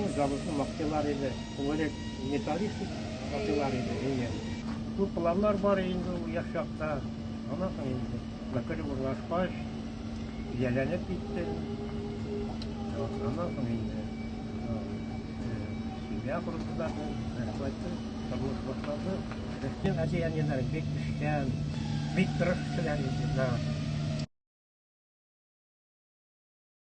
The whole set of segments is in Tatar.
Ну, заводны мактыйлар иде. Күбрәк металлистик мактыйлар иде. Әйе. Күп планнар бар инде ул яшь чакта. Аннан соң инде мәкәле урлашкач, ияләнеп китте. Аннан соң инде семья құрылды да, рәхмәтле, тормыш башлады. Рәхмәт әти-әниләр бик күчкән, бик тырыш кешеләр иде.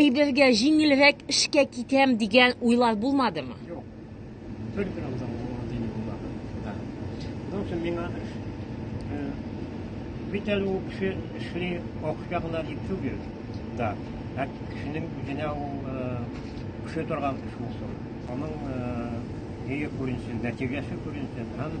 Әйбергә җиңелрәк эшкә китәм дигән уйлар булмадымы? Юк. Только Рамзан Рамазан булмады. Да. Onun için миңа эш бит әле ул кеше эшли акча гына дип түгел. Да. Ә кешенең үзенә ул кеше торган эш булсын. Аның җәе күренсен, нәтиҗәсе күренсен һәм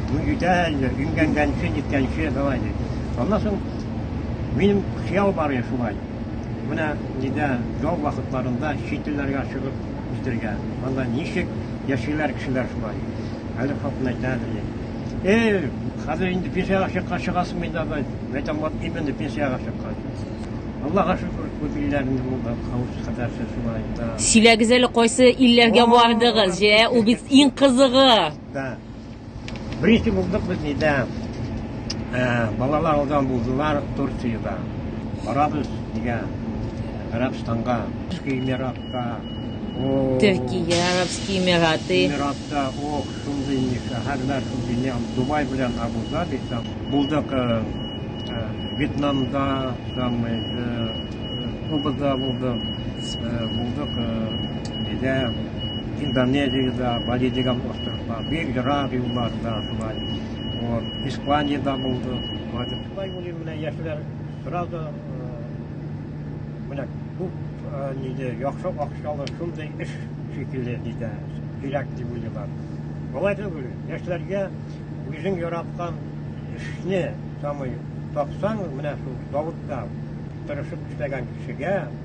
Ну, җитә әле, имгәнгәнче, җиткәнче, давай, ди. Аннан соң минем кияү бар иде шулай. Менә нидә ял вакытларында чит илләргә чыгып җитергә. Анда ничек яшиләр кешеләр шулай. Әле хатын әйтә әле, ди. Эй, хәзер инде пенсиягә чыкка чыгасың инде, давай. Мәйтәм, вот именно пенсиягә чыккан. Аллаһка шөкер, күп илләрне булды, хавыз кадәрсе шулай, да. Сөйләгез әле, кайсы илләргә бардыгыз, җә, ул бит иң кызыгы. Да. Беренче булдык без нидә. Ә, балалар алдан булдылар Турциядә. Барабыз нигә? Гарәбстанга, Төрки Эмиратка. О, Төркия, Арабские Эмираты. Эмиратта, о, шундый ни, шәһәрләр, шундый ни, Дубай белән Абу-Даби там. Булдык э, э, Вьетнамда, там, э, Кубада булдык, э, булдык э, Бездә Индонезиядә, Бразилиядә остыклар, бик ерак юлларда шулай. Вот, Испаниядә булды. Шулай булды менә яшьләр бераз да менә күп ниде яхшы акчалы шундый эш шикелле диде. Кирәк дип уйлыйлар. Болай түгел, яшьләргә үзең яраткан эшне самый тапсаң, менә шул Давытта тырышып эшләгән кешегә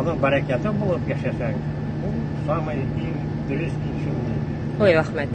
Аның бәрәкәте булып яшәсәң, ул самый иң дөрес икшемне. Ой, рәхмәт.